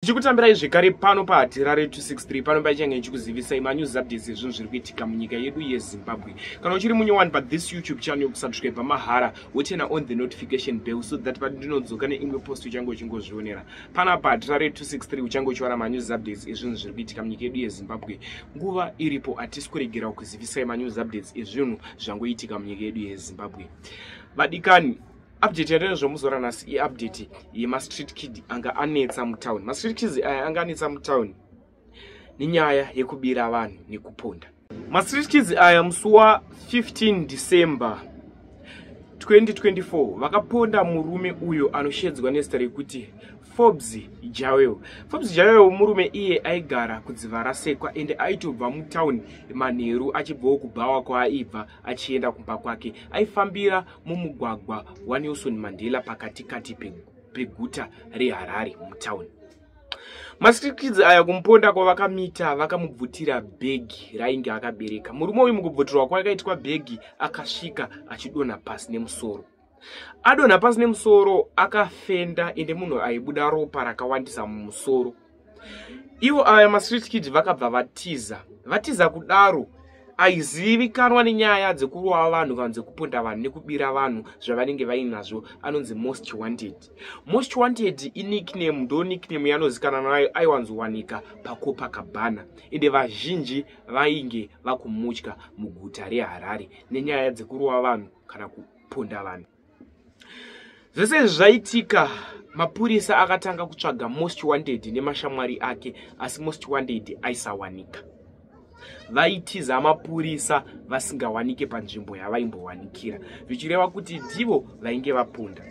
tichikutambirai zvekare pano pahatirare 263 pano paichange ichikuzivisai manews updates ezvinhu zviri kuitika munyika yedu yezimbabwe kana uchiri munyowani pathis youtube channel yokusubscribe mahara wotena on the notification bell so that patindinodzoka neimwe post uchange uchingozvionera pana pahatirare 263 uchange uchiwana manews updates ezvinhu zviri kuitika munyika yedu yezimbabwe nguva iripo hatisi kuregera kukuzivisai manews updates ezvinhu zvangoitika munyika yedu yezimbabwe vadikani update yatove zvomuzora nhasi iupdate yemastreet kid anga anetsa mutown mastreet kids aya eh, anga anetsa mutown nenyaya yekubira vanhu nekuponda mastreet kids aya musi wa 15 december 2024 vakaponda murume uyo anoshedzwa nezita rekuti forbes jawel forbes jawel murume iye aigara kudziva rasekwa ende aitobva mutown manheru achibvawo kubhawa kwaaibva achienda kumba kwake aifambira mumugwagwa wanelson mandela pakati kati peguta reharare mutown mastrikidzi aya kumuponda kwavakamita vakamubvutira bhegi rainge akabereka murume uyu mukubvutirwa kwakaitwa bhegi akasvika achidonha pasi nemusoro adonha pasi nemusoro akafenda ende munhu aibuda ropa rakawandisa mumusoro ivo aya mastreet kid vakabva vatiza vatiza kudaro aizivikanwa nenyaya dzekurova vanhu kana dzekuponda vanhu nekubira vanhu zvavanenge vainazvo anonzi most wanted most wanted inickname ndo nickname yanozikana nayo aiwanzowanika pakopa kabhana ende vazhinji vainge vakumutya muguta reharare nenyaya dzekurova vanhu kana kuponda vanhu zvese izvi zvaitika mapurisa akatanga kutsvaga most wanted nemashamwari ake asi most wanted aisawanika vaitiza mapurisa vasingawanike panzvimbo yavaimbowanikira zvichireva kuti ndivo vainge vapunda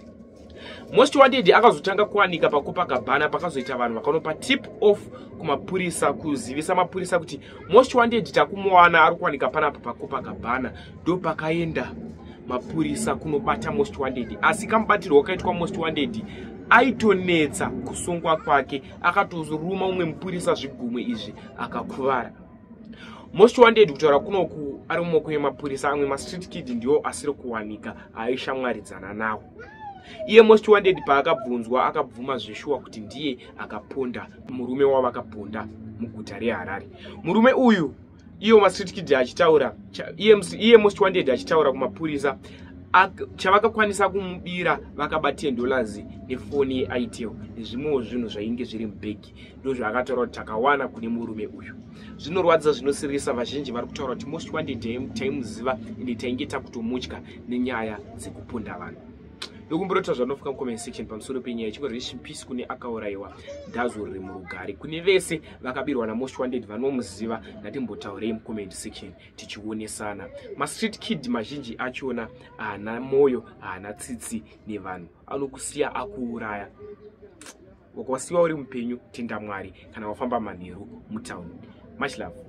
most wanted akazotanga kuwanika pakopakabhana pakazoita vanhu vakanopa tip off kumapurisa kuzivisa mapurisa kuti most wanted takumuwana ari kuwanika panapa pakopakabhana ndopakaenda mapurisa kunobata most wanted asi kamubatirwo wakaitwa most wanted aitonetsa kusungwa kwake akatozoruma umwe mupurisa zvigumwe izvi akakuvara most wanted kutaura kunoku ari mumoko yemapurisa amwe mastreet kid ndiwo asiri kuwanika aishamwaridzana nawo iye most wanted paakabvunzwa akabvuma zveshuwa kuti ndiye akaponda murume wavakaponda muguta reharare murume uyu iwo mastreet kid achitaura iye most wanted achitaura kumapurisa chavakakwanisa kumubira vakaba 10 dollars nefoni yeitel nezvimwewo zvinhu zvainge zviri mubhegi ndozvaakataura kuti takawana kune murume uyu zvinorwadza zvinosirisa vazhinji vari kutaura kuti most wanted taimuziva ende tainge takutomutya nenyaya dzekupunda vanhu yokumborota zvanofika mucomment section pamusoro penyaya ichingo rest in peace kune akaurayiwa dazo riri murugare kune vese vakabirwa namost wanted vanomuziva ngatimbotaurei mucomment section tichionesana mastreet kid mazhinji achona haana mwoyo haana tsitsi nevanhu anokusiya akuuraya wakawasiwa uri mupenyu tenda mwari kana wafamba manheru mutown much love